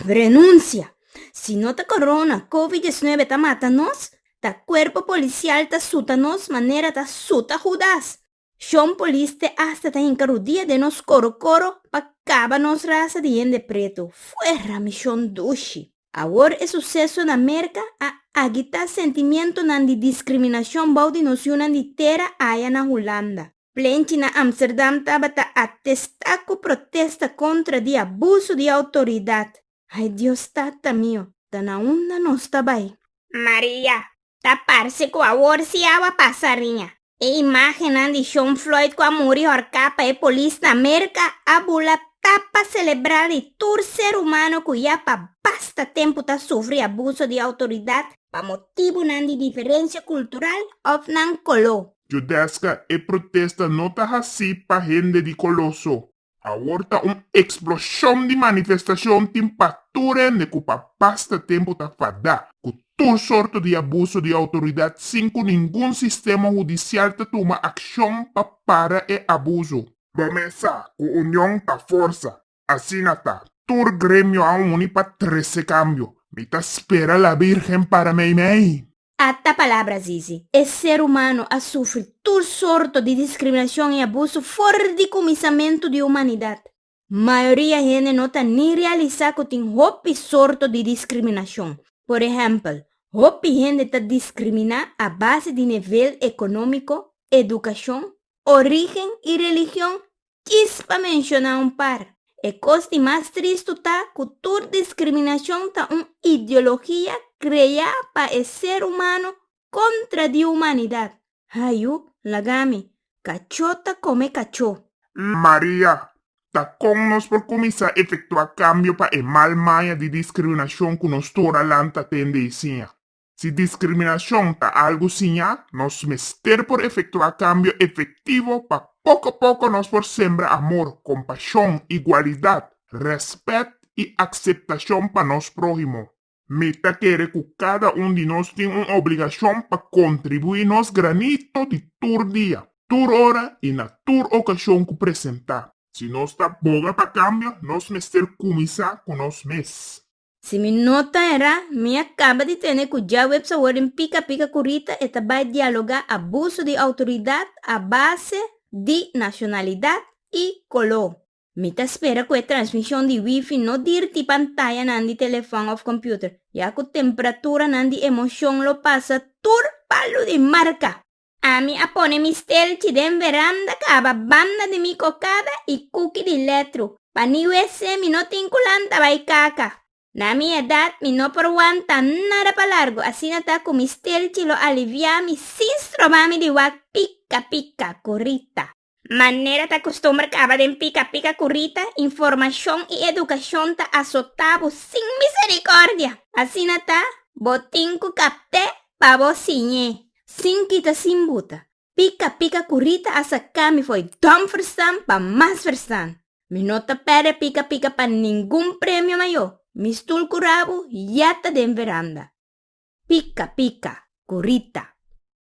Renunsia! Si no ta corona, covid diecinuebe ta mata nos, ta cuerpo policial ta suta nos manera ta suta Judas. Shon poliste hasta ta hinca rudia den nos coro coro pa caba nos raza di hende preto. Fuera mi Shon Dushi! Awor e suseso na Merka a agitá sentimientonan di diskriminashon bou di nos yunan di tera aya na Hulanda. Plenchi na Amsterdam tabata atestá ku protesta kontra di abuso di outoridat. Ai Dios Tata mio, ta na unda nos ta bai? Maria, Ta parse ku awor si awa pasa riña. E imágennan di Shaun Floyd ku a muri horká pa e polis na Merka a bula ta pa selebrá di tur ser humano ku ya pa basta tempu ta sufri abuso di outoridat pa motibunan di diferensia kultural òf nan koló. Judesca, E protesta no ta hací pa hende di color so. Awor ta un eksploshon di manifestashon tin pa tur hende ku pa basta tempu ta fadá ku tur sorto di abuso di outoridat sin ku ningun sistema hudisial ta tuma akshon pa para e abuso. Bo mesa ku union ta forsa. Asina ta, tur gremio a uni pa trese kambio. Mi ta spera La Bírgen para meimei! Ata palabra zizi. E ser humano a sufri tur sorto di discriminacion y abuso for di cuminsamentu di humanidad. Mayoria hende no ta ni realisa cu tin hopi sorto di discriminacion. Por ehempel, hopi hende ta discrimina a base di nivel economico, educacion, origen y religion Kis pa menshona un par. E kos di mas tristu ta ku tur diskriminashon ta un ideologia kreá pa e ser humano kontra di humanidat. Hayu, laga mi. Kachó ta kome kachó. Maria, Ta kon nos por kuminsá efektuá kambio pa e mal maña di diskriminashon ku nos tur a lanta tende i siña? Si diskriminashon ta algu siñá, nos mester por efektuá kambio efektivo pa poko poko nos por sembra amor, kompashon, igualidat, rèspèt i akseptashon pa nos próhimo. Mi ta kere ku kada un di nos tin un obligashon pa kontribuí nos granito di tur dia, tur ora i na tur okashon ku presentá. Si nos ta boga pa kambio, nos mester kuminsá ku nos mes. Si mi no ta erá, mi a kaba di tene ku dja webs awor den pika pika ku Rita e ta bai dialogá abuso di outoridat a base di nashonalidat i koló. Mi ta spera ku e transmishon di wifi no dirti pantayanan di telefòn òf kompüter, ya ku tempraturanan di emoshon lo pasa tur palu di marka! Ami a pone mi stelchi den veranda kaba banda di mi kokada i kuki di letru. Pa ni wc mi no tin ku lanta bai kaka. Na mi edat mi no por wanta nada pa largu asina ta ku mi stelchi lo aliviami sin stroba mi di wak pika pika ku Rita. Manera ta costumber caba den pica pica cu Rita, informacion y educacion ta azota bo sin misericordia. Asina ta, bo tin cu capte pa bo siñe. Sin kita sin buta, pica pica cu Rita a saca mi fo'i dom ferstan pa mas ferstan. Mi no ta perde pica pica pa ningun premio mayo, mi stoel cu rabo ya ta den veranda. Pica pica cu Rita.